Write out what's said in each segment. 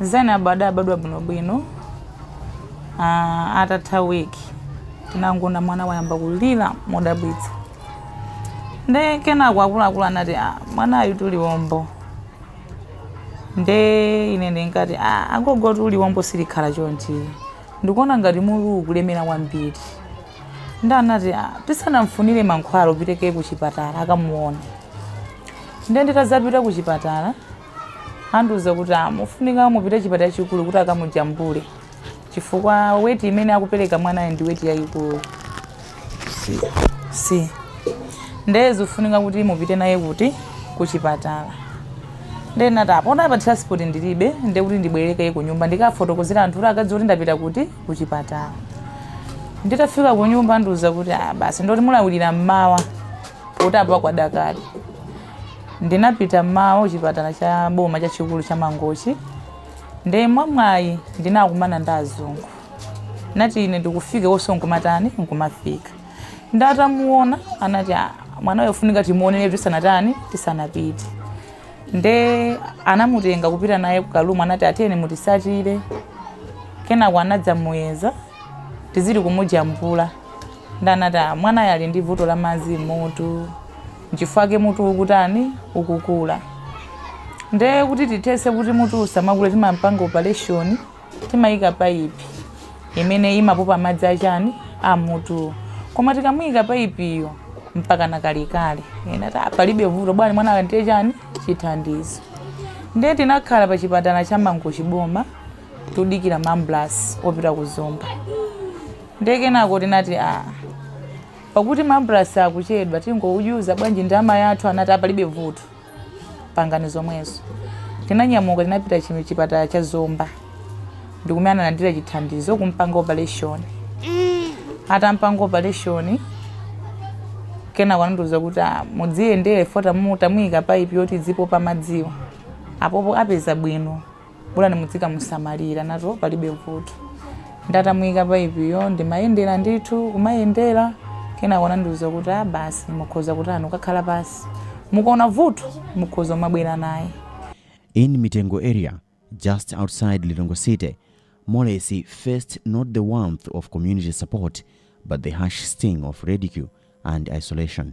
zainabu adabadwa bwinobwino ah, atatha wiki tinangona mwana wayamba kulira modabwitsa nde kenako akuluakulu anati "Ah, mwanayu ndi liwombo nde ine ndinati "Ah, agogo liwombo silikhala chonchi ndikuona ngati mutu ukulemera kwambiri nde anati "Ah, tisanamfunire mankhwala upite kaye kuchipatala akamuona nde nditazapita kuchipatala andiuza kuti ah, mukufunika mupite chipatala chikulu kuti akamujambule chifukwa weti imene akupereka mwanayo ndi weti yayikulu si si ndeye zikufunika kuti mupite naye kuti kuchipatala ndeye ndinati apo pa transport ndilibe nde kuti ndibwereke ku nyumba ndikafotokozera anthu kuti akadziwe kuti ndapita kuti kuchipatala nditafika ku nyumba andiuza kuti ah, basi ndoti mulawirire mmawa kuti apa kwada kale Ndinapita mmawa kuchipatala cha boma chachikulu cha Mangochi nde mwamwayi ndinakumana ndi azungu atangofika iwonso nkumatani nkumafika ndi atamuona anati "Ah, mwana uyu afunika timuoneretu tisanatani tisanapite nde anamutenga kupita naye ku karumu anati ah, tiyeni mutitsatire kenako anadzamuyeza ndi kumujambula ndanati "Ah, mwanayo ali ndi vuto la madzi m'mutu Nchifukwa chake mutu ukutani? Ukukula. Nde kuti tithese kuti mutu usamakule timampanga operation, timaika paipi imene imapopa madzi achani a m'mutuwo. Koma tikamuika paipiyo mpakana kalekale. Nde ndinati palibe vuto bola mwana alandire chani chithandizo. Nde tinakhala pa chipatala cha Mangochi boma kudikira ambulansi yopita ku Zomba. Nde kenako tinati a Pakuti ambulansi ikuchedwa tingouyatsa bwanji ndi amayi athu anati apalibe vuto. Pangani zomwezo. Tinanyamuka tinapita chiyani chipatala cha Zomba. Ndikumene analandira chithandizo kumpanga operation. Atampanga operation kenako anandiuza kuti ah, mudziyendera poti tamuyika pipe yoti idzipopa madziwa. Apopo apeza bwino. bola mudzikamusamalira ndinati palibe vuto nde atamuyika paipiyo ndimayendera ndithu kumayendera kenako anandiuza kuti a basi mukhoza kutani kukakhala pansi mukaona vuto mukhoza kumabwera naye In Mitengo area, just outside Lilongwe City, Molesi faced not the warmth of community support, but the harsh sting of ridicule and isolation.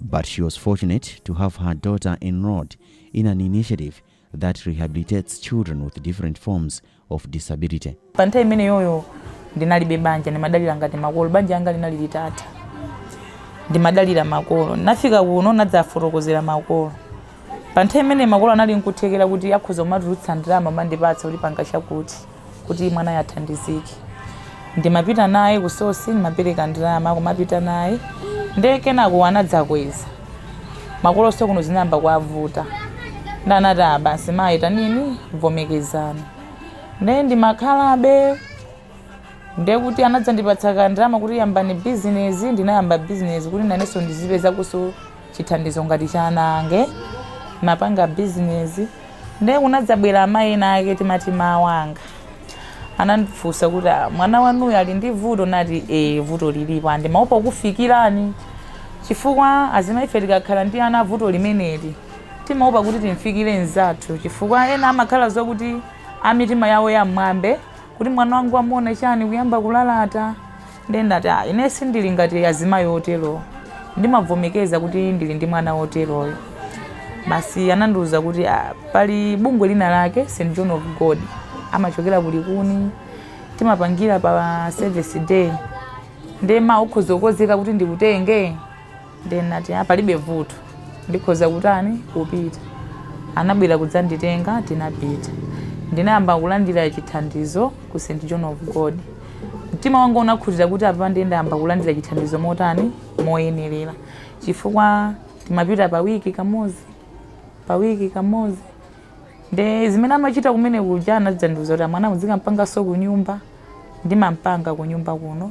But she was fortunate to have her daughter enrolled in an initiative that rehabilitates children with different forms of disability. Pa nthawi imeneyoyo ndinalibe banja, ndimadalira ngati makolo. Banja langa linali litatha, ndimadalira makolo. Ndinafika kuno ndinadzafotokozera makolo. Pa nthawi imeneyi makolo anali n'kuthekera kuti akhoza kumatulutsa ndalama kumandipatsa kuti panga chakuti. kuti mwanayo athandizike ndimapita naye ku SOS ndimapereka ndalama kumapita naye nde kenako anadzakweza makolonso kuno zinayamba kuwavuta nde anati "Ah, basi mayi tanini vomerezani" nde ndimakhalabe nde kuti anadzandipatsa kandalama kuti yambani bizinesi ndinayamba bizinesi kuti nanenso ndizipeza kusowa chithandizo ngati cha ana ange ndimapanga bizinesi nde kunadzabwera amayi ena ake timati Ma Wanga anandifunsa kuti "Ah, mwana wanuyo ali ndi vuto nati e vuto lilipo a ndimaopa kukufikirani chifukwa azimai ife tikakhala ndi ana vuto limeneli timaopa kuti timfikire mzathu chifukwa ena amakhala zokuti amitima yawo yam'mwamba kuti mwana wangu amuona chani kuyamba kulalata Ndiye ndinati, Ah, ine sindili ngati azimayi oterowo. Ndimavomekeza kuti ndili ndi mwana woteroyo. Basi anandiuza kuti ah, pali bungwe lina lake St John of God amachokera ku Likuni timapangira pa service day. Ndiye mawa ukhoza kukonzeka kuti ndikutenge. Ndiye ndinati, ah, palibe vuto. Ndikhoza kutani? Kupita. Anabwera kudzanditenga, tinapita. Ndinayamba kulandira chithandizo ku St. John of God. Mtima wanga unakhutira kuti apa ndiye ndayamba kulandira chithandizo motani? Moyenerera. Chifukwa timapita pa wiki kamodzi, pa wiki kamodzi. Nde zimene amachita kumene kuja anadzandiuza kuti ah mwana muzikampanga so kunyumba. Ndimampanga kunyumba kuno.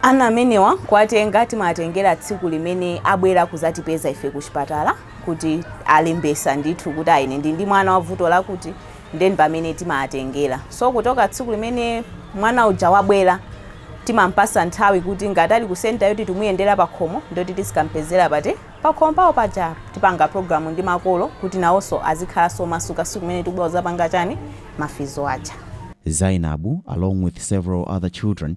Ana amenewa kuwatenga timawatengera tsiku limene abwera kuzatipeza ife kuchipatala kuti alembetsa ndithu kuti ah ine ndili ndi mwana wavuto lakuti nde pamene timawatengera so kuchoka tsiku limene mwana uja wabwera timampatsa nthawi kuti ngati ali ku center yoti timamuyendera pakhomo ndi yoti tizikampezera pati pakhomo pawo paja timapanga program ndi makolo kuti nawonso azikhalanso omasuka tsiku limene tikubwera kuzapanga chani ma physio aja. Zainabu along with several other children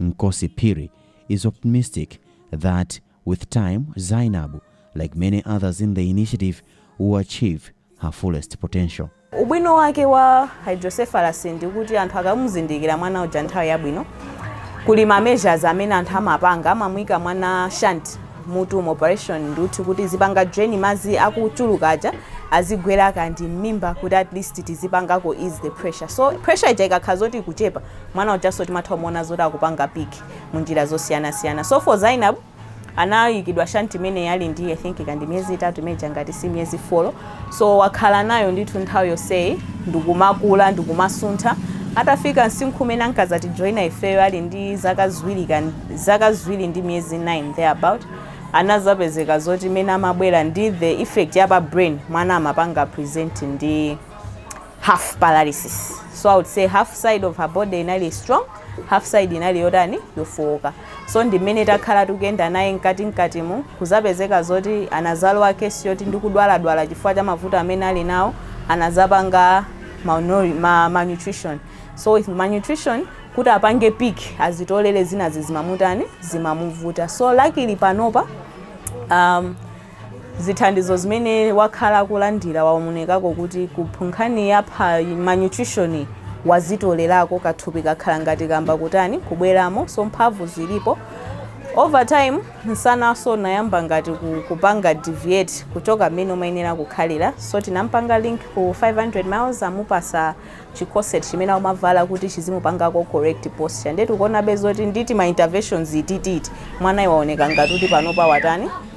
Mkosi Phiri is optimistic that with time Zainabu, like many others in the initiative, will achieve her fullest potential. Ubwino wake wa hydrocephalus ndi kuti anthu akamuzindikira mwana uja nthawi yabwino, kuli ma measures amene anthu amapanga, amamuika mwana shunt, mutu mu operation nduthi kuti izipanga drain madzi akuchuluka aja azigwera kaya ndi mmimba kuti at least tizipangako ease the pressure so pressure ija ikakhala zoti ikuchepa mwana ujanso timatha kumuona zoti akupanga pick mu njira zosiyanasiyana so for Zainab anayikidwa shunt imene ali ndi i think kaya ndi miyezi itatu imene ija ngati si miyezi folo So wakhala nayo ndithu nthawi yonseyi ndikumakula ndikumasuntha atafika msinkhu umene ankazatijoina ifeyo ali ndi zaka ziwiri kan- zaka ziwiri ndi miyezi 9 thereabout anazapezeka zoti mmene amabwera ndi the effect ya pa brain mwana amapanga present ndi half paralysis so i would say half side of her body inali strong half side inali yotani yofowoka So ndi mmene takhala tikuyenda naye mkatikatimu kuzapezeka zoti anazalowa case yoti ndikudwaladwala chifukwa cha mavuto amene ali nawo anazapanga malnourished ma malnutrition so with malnutrition kuti apange pick azitolere zinazake zimamutani zimamuvuta so luckily panopa um, zithandizo zimene wakhala akulandira waonekako kuti ku ku nkhani ya malnutrition wazitolerako kathupi kakhala ngati kayamba kutani kubweramo so mphamvu zilipo over time nsananso unayamba ngati ku- kupanga deviate kuchoka mmene umayenera kukhalira so tinampanga link ku 500 miles amupasa chi corset chimene amavala kuti chizimupangako correct posture nde tikuonabe zoti ndi tima interventions timeneti mwanayi waoneka ngati kuti panopa watani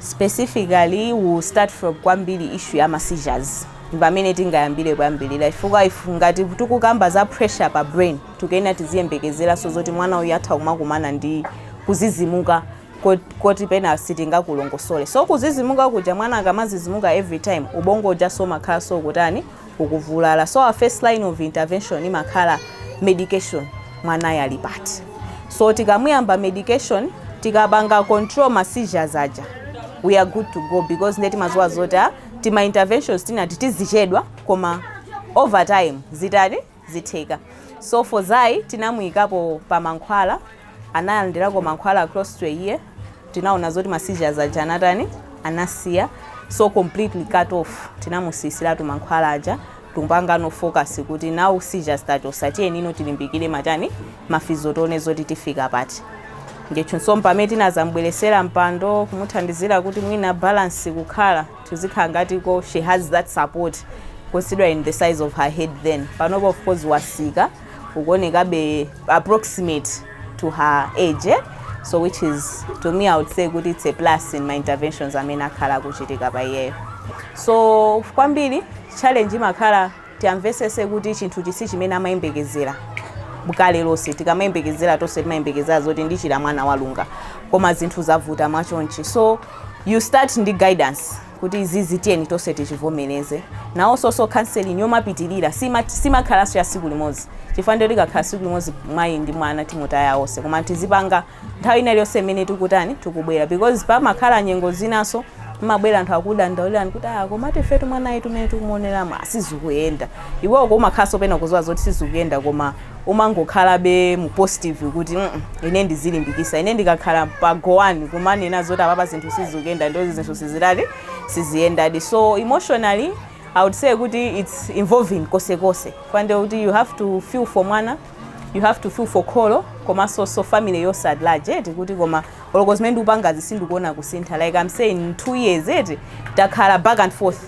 Specifically we will start from kwambiri issue ya ma seizures ndipamene tingayambire kwambiri chifukwa if ngati tikukamba za pressure pa brain tikuyenera tiziyembekezeranso zoti mwana uyu atha kumakumana ndi kuzizimuka kot- koti pena sitingakulongosole so kuzizimuka kuja mwana akamazizimuka every time ubongo ujanso umakhalanso ukutani ukuvulala so our first line of intervention imakhala medication mwanayu ali pati so tikamuyamba medication tikapanga control ma seizures aja we are good to go because nde timaziwa zoti ah, tima interventions tinati tizichedwa koma over time zitani zitheka so for Zai tinamuyikapo pa mankhwala analandirako mankhwala aclostray iye tinaona zoti ma seizures aja anatani anasiya so completely cut off tinamusiyisiratu mankhwala aja timpangeno focus kuti now seizures tachosa tiyenino tilimbikire matani mafizo tione zoti tifika pati ndiyenso mpamene tinazambweretsera mpando kumuthandizira kuti mwina balance kukhala tizikhala ngatiko she has that support considering the size of her head then panopa of course wasika ukuonekabe approximate to her age eh? so which is to me i would say kuti it's a plus in my interventions amene akhala akuchitika pa iyeyo so kwambiri challenge imakhala tiyamvesese kuti chinthu ichi chimene amayembekezera m'kale lonse tikamayembekezera tonse timayembekezera zoti ndichira mwana walunga koma zinthu zavuta mwachonchi so you start ndi guidance kuti izizi tiyeni tonse tichivomereze nawosonso counseling yomapitirira sima- simakhalanso ya siku limodzi chifukwa ndiyo tikakhala tsiku limodzi mayi ndi mwana timutaya onse koma tizipanga nthawi ina iliyonse imene tikutani tikubwera because pamakhala nyengo zinanso mmabwera anthu akudandaulirani kuti ah komatu ifetu mwanayitu mmene tikumuoneramo sizikuyenda iwewo kumakhalanso pena kudziwa zoti sizikuyenda koma umangokhalabe mu positive kuti mm -mm, ine ndizilimbikitsa ine ndikakhala pa goani kumanena zoti apapa zinthu sizikuyenda ndiye zinthu sizitali siziyendadi so emotionally i would say kuti its involving konsekonse kwande kuti you have to feel for mwana you have to feel for kholo komanso so family yonse at large eti kuti koma oloko zimene ndikupangazi sindikuona kusintha like i'm saying in two years eti takhala back and forth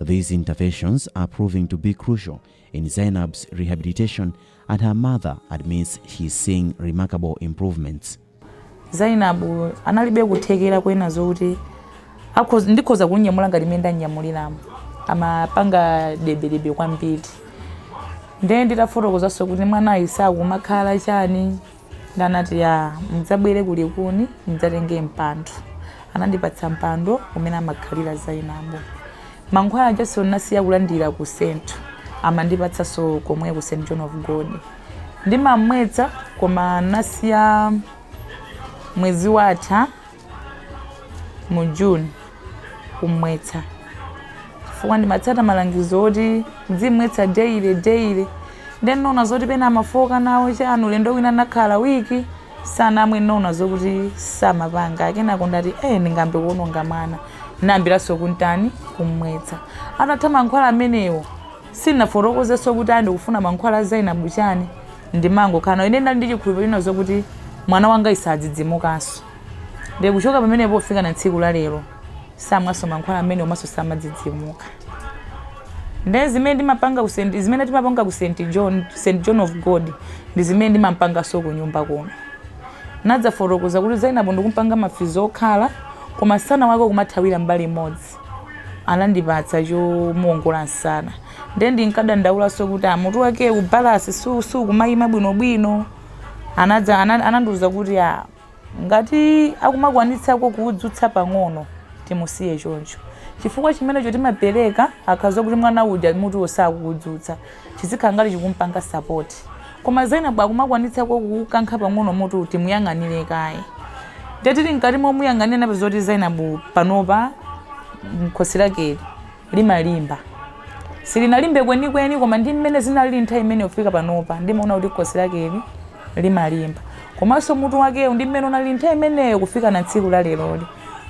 These interventions are proving to be crucial in Zainab's rehabilitation and her mother admits she is seeing remarkable improvements. Zainab analibe kuthekera koona zoti ndikhoza kunyamula ngati mmene ndanyamuliramo amapanga debedebe kwambiri ndiye nditafotokozanso kuti mwanayu sakumakhala chani Nde anati, Yaa, mudzabwere ku Likuni, mudzatenge mpando. Anandipatsa mpando umene amakhalira Zainabu. Mankhwala ajanso ndinasiya kulandira ku St. Amandipatsanso komwe ku St. John of God. Ndimamwetsa, koma ndinasiya mwezi watha. mu june kumwetsa chifukwa ndimatsata malangizo oti nzimwetsa daily daily nde ndinaona zoti pena amafooka nawo chani ulendo wina anakhala wiki sanamwe ndinaona zokuti samapanga akenako ndati eh ndingambe kuononga mwana ndinayambiranso kuntani kumwetsa atatha mankhwala amenewo Sindinafotokozenso kuti ayi ndikufuna mankhwala a Zainabu chani ndimangokhala nawo ine ndinali ndi chikhulupiliro china zokuti mwana wangayu sadzidzimukanso ndiye kuchoka pamenepo kufika na tsiku la lero samwanso mankhwala amenewo komanso samadzidzimuka ndiye zimene ndimapanga ku St. zimene timapanga ku St. John, St. John of God ndi zimene ndimampanganso ku nyumba kuno nadzafotokoza kuti Zainabu ndikumpanga mafizo okhala koma msana wake ukumathawira mbali imodzi Mose anandipatsa chomuongola msana nde ndinkadandaulanso kuti a mutu wakewu balansi su- sukumayima bwinobwino anadza ana- anandiuza kuti a ngati akumakwanitsako kuudzutsa pang'ono timusiye choncho chifukwa chimenecho timapereka akakhala kuti mwana uja mutuwo sakuudzutsa chizikhala ngati chikumpanga support koma Zainab akumakwanitsako kukankha pang'ono mutu timuyang'anire kaye nde tili mkati momuyang'anira napeza kuti Zainab panopa khosi lakeli limalimba silinalimbe kwenikweni koma ndi mmene zinalili nthawi imene ufika panopa ndimaona kuti khosi lakeli limalimba komanso mutu wakewu ndi mmene unali nthawi imeneyo kufika na tsiku la leroli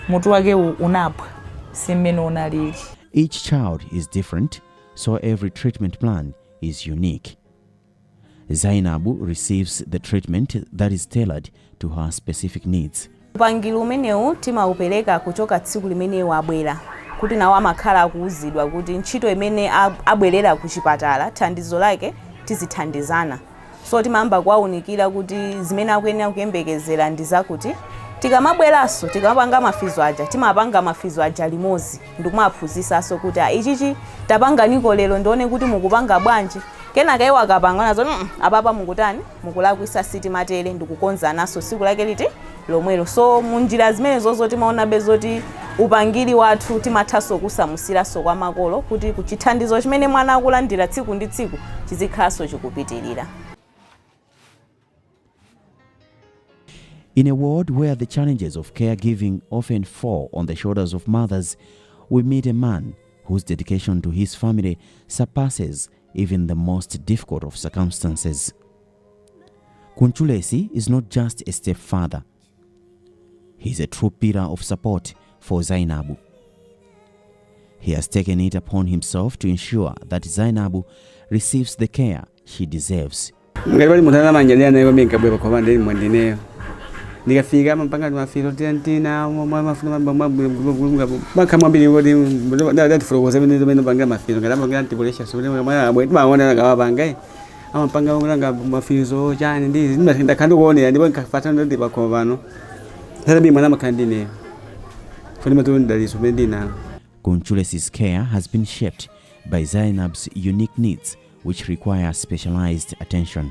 mutu wakewu unaphwa si mmene unalili Each child is different so every treatment plan is unique. Zainabu receives the treatment that is tailored to her specific needs. upangiri umenewu timaupereka kuchoka tsiku limene wabwera kuti nawo amakhala akuwuzidwa kuti ntchito imene ab- abwerera ku chipatala thandizo lake tizithandizana So timayamba kuwaunikira kuti zimene akuyenera kuyembekezera ndi zakuti tikamabweranso tikamapanga mafizo aja timapanga mafizo aja limodzi ndikumaphunzisanso kuti "Ah, ichichi tapanganiko lero ndione kuti mukupanga bwanji kenaka iwo akapanga nazo "Mm, apapa mukutani mukulakwisa sitimatere ndikukonzananso tsiku lake liti lomwelo so munjira zimenezozo timaonabe zoti upangiri wathu timathanso kusamusiranso kwa makolo kuti chithandizo chimene mwana akulandira tsiku ndi tsiku chizikhalanso chikupitirira In a world where the challenges of caregiving often fall on the shoulders of mothers, we meet a man whose dedication to his family surpasses even the most difficult of circumstances. Kunchulesi is not just a step father, he is a true pillar of support for Zainabu. He has taken it upon himself to ensure that Zainabu receives the care she deserves. ngati pali munthu anamanyanira naye kwamene nkabwera pakhoma ndili mwandineyo ndikafika amapanga timafizo tiantina mafuna makha kwambiri kuti ndatifotokoza pena mmene apangira mafizo ngati apangira antipolisha sikuti mwana abwe timaona akawapanga amapanga kulanga mafizo chani ndi zimba ndakhala ndikuonera ndipo ndikafata nadi pakhomo pano ndatabi mwana amakhala ndi ineyo fo ndimatolo ndidaliso pene ndinalo Kunchule's care has been shaped by Zainab's unique needs, which require specialized attention.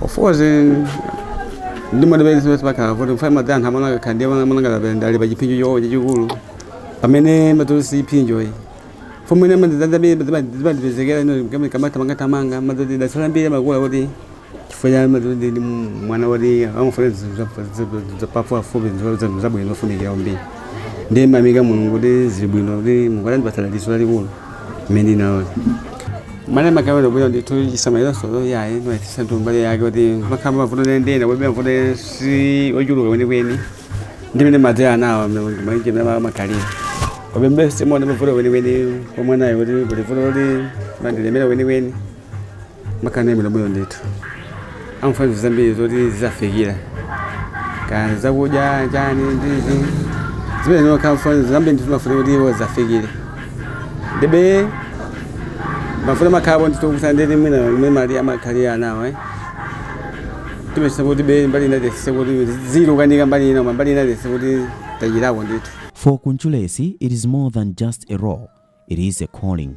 Of course, eh, ndi madebeni sipesi pakhala kuti kufuna madzi anthu amene akakhala ndiye amene anakalabe ndali pa chiphinjo chawo chachikulu pamene madzi si chiphinjo iyi fomene madizibandipezekera kamathamangathamanga madzi dasala mbiri amakula kuti chifukwa cha madzi ndi ndi mwana woti amafuna zapafupifupi zabwino zofunikira kwambiri ndiyamika mulungu kuti zili bwino kuti mukuti andipatsa dalitso lalikulu menino mane makamera kuyo ndithu chisamaliro chawo yayi ndimaitisa ndi mbali yake kuti makhama mavuto ndinena kuti mavuto si ochuluka kwenikweni ndimene madzi anawa ndimaije mene makalira komabe sindiona mavuto kwenikweni kwa mwanayo kuti kuti vuto kuti mandilemera kwenikweni makhala imene bwino ndithu amafuna zinthu zambiri zoti zizafikira kaya zakudya chani ndi zimene ndimakhala zambiri ndithu amafuna kuti iwo zafikire ndibe mafuna makhalapo ndithu kusa nditi mwina mwe mali amakhalira anawo eh timachita kuti be mbali ina tese kuti zikukanika mbali ina koma mbali ina tese kuti tachitako ndithu For Kunchulesi, it is more than just a role, it is a calling.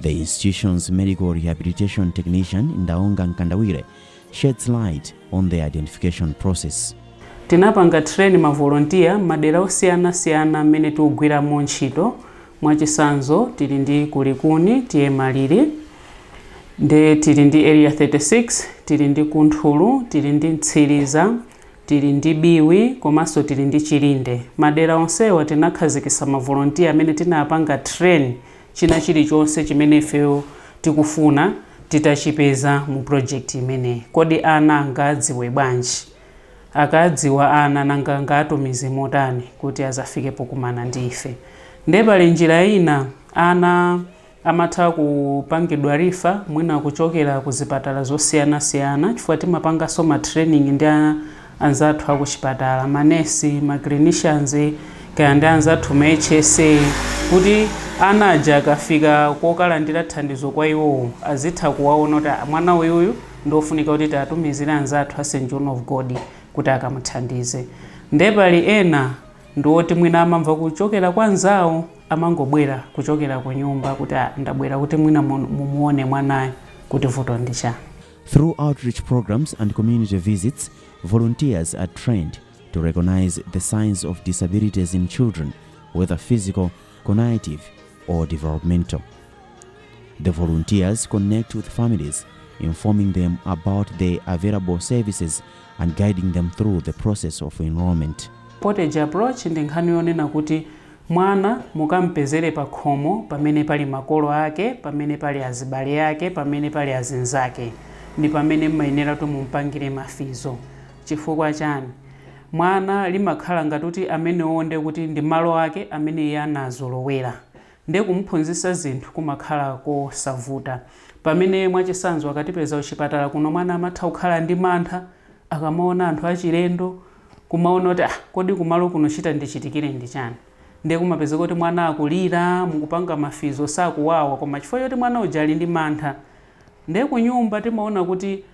The institution's medical rehabilitation technician Ndaonga Nkandawire sheds light on the identification process. Tinapanga train ma volunteer madera osiyana siyana amene tikugwiramo ntchito mwachisanzo tili ndi ku Likuni tili ndi Maliri nde tili ndi area 36 tili ndi ku Nthulu tili ndi Mtsiliza tili ndi Biwi komanso tili ndi Chilinde. Madera onsewa tinakhazikisa ma volontiya amene tinapanga train china chilichonse chimene ifeyo tikufuna titachipeza mu project imeneyi. Kodi ana angaadziwe bwanji? Akaadziwa ana nanga angaatumize motani kuti azafike pokumana ndi ife? Nde pali njira ina ana. amatha kupangidwa refer mwina kuchokera ku zipatala zosiyana siyana chifukwa timapanganso ma training ndi anzathu a kuchipatala, ma nurse, ma clinicians, kaya ndi anzathu ma HSA kuti ana aja akafika kokalandira thandizo kwa iwowo azitha kuwaona kuti ah mwana uyuyu ndi ofunika kuti tiwatumizire anzathu a St John of God kuti akamuthandize. Nde pali ena ndi oti mwina amamva kuchokera kwa nzawo, amangobwera kuchokera kunyumba kuti ah, ndabwera kuti mwina mun- mumuone mwanayo kuti vuto ndi chani Through outreach programs and community visits, volunteers are trained to recognize the signs of disabilities in children, whether physical, cognitive, or developmental. The volunteers connect with families, informing them about the available services and guiding them through the process of enrollment. portage approach ndi nkhani yonena kuti Mwana mukam'pezere pakhomo pamene pali makolo ake, pamene pali azibale ake, pamene pali azinzake. Ndi pamene m'mayenera kuti mum'pangire ma physio. Chifukwa chani? Mwana zimakhala ngati kuti amenewowo ndiye kuti ndi malo ake amene iye anazolowera. Ndiye kumuphunzitsa zinthu kumakhala kosavuta. Pamene, mwachisanzo, akatipeza kuchipatala kuno mwana amatha kukhala ndi mantha. akamaona anthu achilendo kumaona kuti ah kodi kumalo kuno chitandichitikire ndi chani ndiye kumapezeka kuti mwana akulira mukupanga mafizo sakuwawa koma chifukwa choti mwana uja ali ndi mantha ndiye kunyumba timaona kuti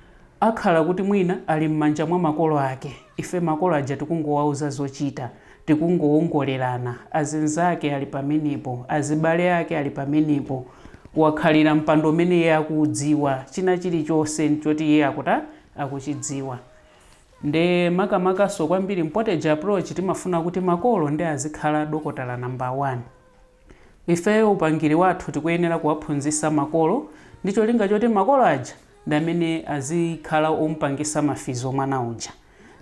akhala kuti mwina ali m'manja mwa makolo ake ife makolo aja tikungowauza zochita tikungowongolerana azinzake ali pamenepo azibale ake ali pamenepo wakhalira mpando umene iye akuudziwa china chilichonse choti iye akuta akuchidziwa nde makamakanso kwambiri m'poteji approach timafuna kuti makolo nde azikhala dokotala number 1 ifeyo upangiri wathu tikuyenera kuwaphunzisa makolo ndi cholinga choti makolo aja ndi amene azikhala omupangisa mafizo mwana uja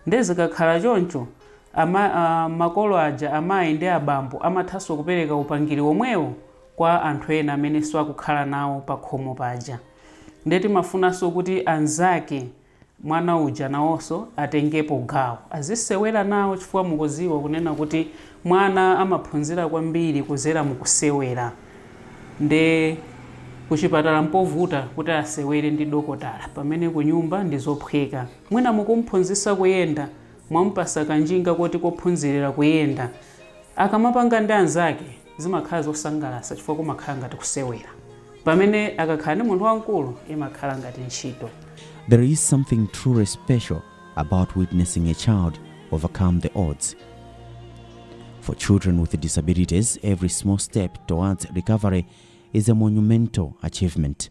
nde zikakhala choncho ama aah makolo aja amayi ndi abambo amathanso kupereka upangiri omwewo kwa anthu ena amenenso akukhala nawo pakhomo paja. Nde timafunanso kuti anzake mwana uja nawonso atengepo gawo azisewera nawo chifukwa mukuziwa kunena kuti mwana amaphunzira kwambiri kudzera mukusewera nde kuchipatala mpovuta kuti asewere ndi dokotala pamene kunyumba ndizophweka mwina mukumphunzisa kuyenda mwamupasa kanjinga koti kophunzirira kuyenda akamapanga ndi anzake Zimakhala zosangalasa chifukwa kumakhala ngati kusewera. Pamene akakhala ndi munthu wamkulu imakhala ngati ntchito. There is something truly special about witnessing a child overcome the odds. For children with disabilities, every small step towards recovery is a monumental achievement.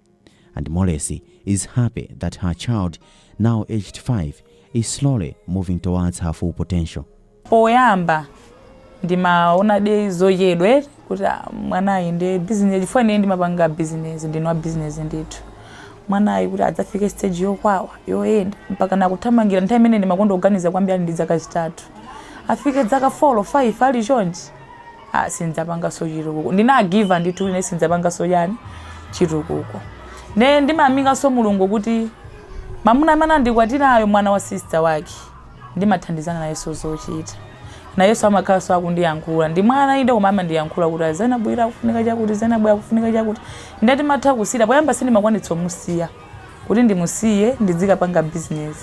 And Molesi is happy that her child, now aged 5, is slowly moving towards her full potential. poyamba ndimaonadi zochedwe kuti ah, mwanayi ndi bizinesi chifukwa ine ndimapanga bizinesi ndine wa bizinesi ndithu mwanayi kuti adzafike stage yokwawa yoyenda mpaka nakuthamangira nthawi imene ndimakonda kuganiza kwambiri ali ndi dzaka zitatu afike dzaka 4 5 ali chonchi ah, sindidzapanganso chitukuko ndinagiva ndithu kuti ne sindidzapanganso chani chitukuko ne ndimayamikanso mulungu kuti mamuna amene andikwatirayo mwana wa sista wake ndimathandizana nayenso zochita nayenso amakhalanso akundiyankhula ndi mwana inde koma amandiyankhula kuti azenabwera akufunika chakuti zenabwera akufunika chakuti ndati matha kusiya poyamba sindimakwanitsa kumusiya kuti ndimusiye ndidzikapanga business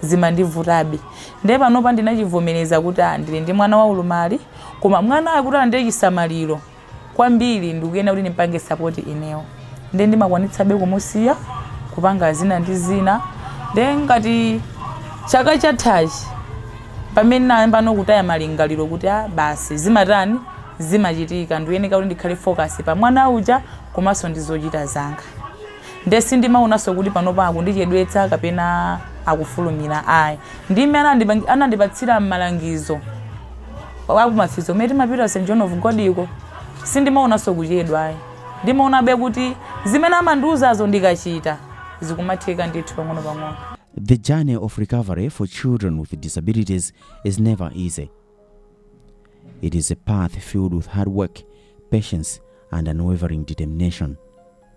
zimandivuta nde panopa ndinachivomereza kuti ah, ndili ndi mwana waulumali koma mwanayo kuti alandire chisamaliro kwambiri ndikuyenera kuti ndimpange sapoti inewo nde ndimakwanitsabe kumusiya kupanga zina ndi zina nde ngati chaka chathachi pamene ndinayambano kutaya malingaliro kuti ah, basi zimatani zimachitika ndikuyeneka kuti ndikhale focus pa mwana uja komanso ndi zochita zanga Nde sindimaonanso kuti panopa akundichedwetsa kapena akufulumira ayi. Ndime anandipatsira malangizo a kuma physio kumene timapita ku St. John of Godiko, sindimaonanso kuchedwa ayi. Ndimaonabe kuti zimene amandiuzazo ndikachita zikumatheka ndithu pang'onopang'ono. The journey of recovery for children with disabilities is never easy. It is a path filled with hard work, patience, and unwavering determination.